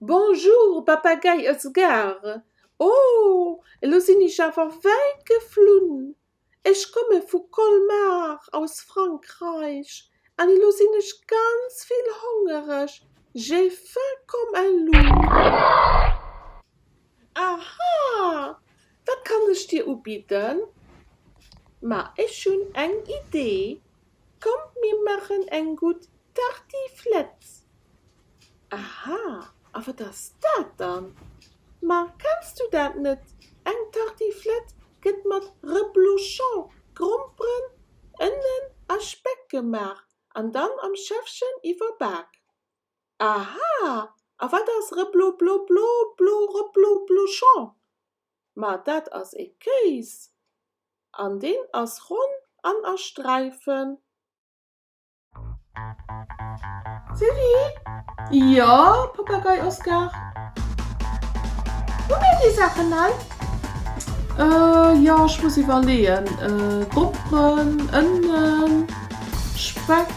Bonjour Papagei aus Gare, oh elo sinn ech awer wäit geflunn, ech komme vu Colmar aus Frankreich an elo sinn ech ganz vill hongereg, j'ai faim comme un loup, aha! Wat kann ech dir ubidden? Ma ech hunn eng Idee, komm mir maachen eng gutt Tartiflette! Aha, a wat ass dat dann? Ma kenns du dat net? Eng Tartiflette gëtt mat Reblochon, Gromperen, Ënnen a Speck gemaach an dann am Schäffchen iwwerbak. Aha, a wat ass Reblobloblobloreblobluchon? Ma dat ass ee Kéis, an deen ass ronn an a Sträifen. Sylvie, Jo, Papagei Oskar? Hu mir déi Saachen hei? Jo, ech muss iwwerleeën, Doppen, Ënnen, Speck.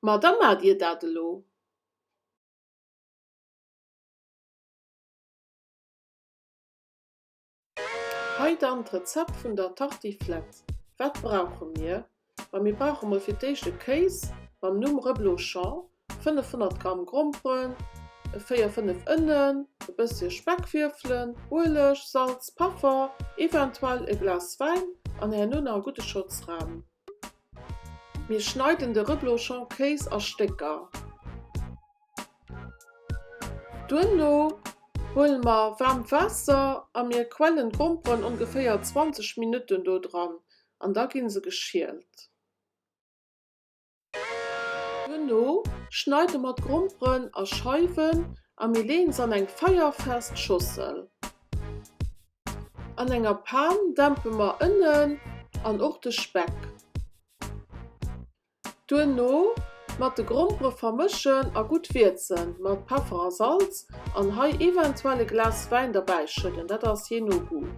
Ma da maacht Dir dat elo! Hei dann d'Rezept vun der Tartiflette. Wat brauche mir? Ma mir brauche mol fir d'éischt e Kéis mam Numm Reblochon, 500 Gramm Gromperen, véier, fënnef Ënnen, e bësschen Speckwürfelen, Ueleg, Salz, Peffer, eventuell e Glas Wäin an herno nach e gudde Schotz Ram. Mir schneiden de Reblochon Kéis a Stécker. Duerno huele mer waarmt Waasser a mir quellen d'Gomperen ongeféier 20 Minutten do dran an da gi se geschielt. Duerno schneide mer d'Gromperen a Scheiwen a mir leeën se an eng feierfest Schossel. An enger Pan dämpe mer Ënnen an och de Speck. Duerno mat de Grompere vermëschen a gutt wierzen mat Peffer a Salz an hei eventuell e Glas Wäin derbäi schëdden, dat ass jee no Goût.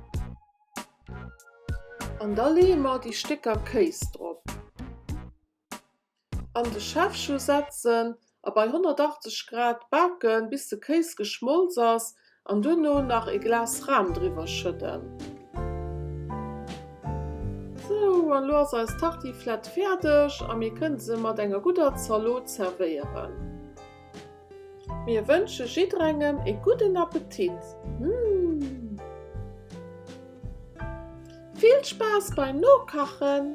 An da leeë mer déi Stécker Kéis drop. An de Schäffchen setzen a bei 180 Grad baken bis de Kéis geschmolz ass an duerno nach e Glas Ram driwwer schëdden. Sou, an elo ass eis Tartiflette fäerdeg a mir kënne se mat enger gudder Zalot zerwéieren. Mir wënsche jidderengem e gudden Appetit! Vill Spaass beim Nokachen!